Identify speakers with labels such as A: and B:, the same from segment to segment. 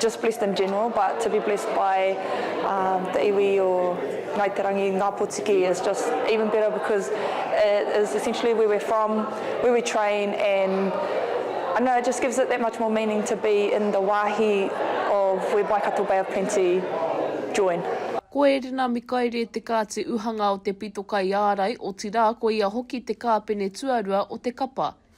A: just blessed in general but to be blessed by um, the iwi or Ngai Te Rangi, Ngā Potiki is just even better because it is essentially where we're from, where we train and I know it just gives it that much more meaning to be in the wāhi of where Waikato Bay of Plenty join. Ko Erina
B: Mikaere te kāti uhanga o te pito kaiārai, otirā ko ia hoki te kāpene tuarua o te kapa.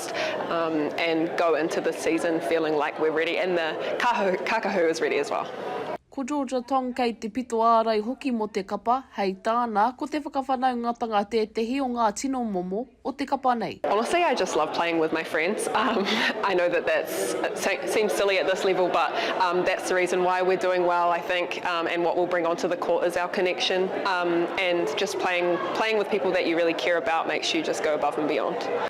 C: August um and go into this season feeling like we're ready and the Kahu Kakahu is ready as well. Ko Georgia
B: Tong kei te pito ārai hoki mō te kapa, hei tāna, ko te whakawhanaungatanga tētehi o ngā tino momo o te kapa nei. Honestly I just love playing
C: with my friends um I know that that's it seems silly at this level but um that's the reason why we're doing well I think um and what we'll bring onto the court is our connection um and just playing playing with people that you really care about makes you just go above and beyond.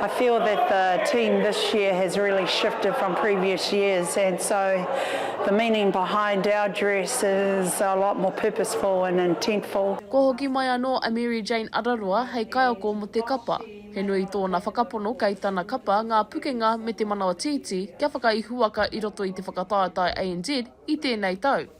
D: I feel that the team this year has really shifted from previous years and so the meaning behind our dress is a lot more purposeful and intentful. Kua hoki mai anō
B: a Mary Jane Araroa hei kaiako mō te kapa. He nui tōna whakapono kei tana kapa ngā pukenga me te manawa tītī kia whakaihuwaka i roto i te whakataetae ANZ i tēnei tau.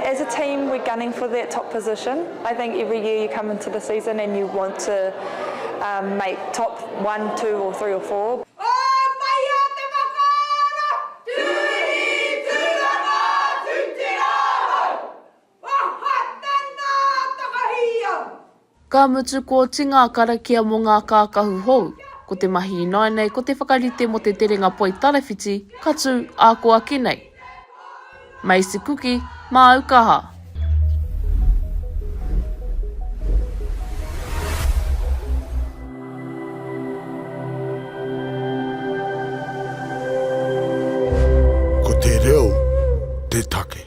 C: As a team we're
A: gunning for that top position, I think every year you come into the season and you want to make top one, two or three or four. Pōtaia te whakaara, Tūhi, Tūranga, Tū te
B: Rāhau, Wahatana, Takahia. Ka mutu kōti ngā karakia mō ngā kākahu hou. Ko te mahi ināianei ko te whakarite mō te terenga poi tarawhiti ka tū ākoaki nei. Maize cookie, māu kaha.
E: Ko te reo te take.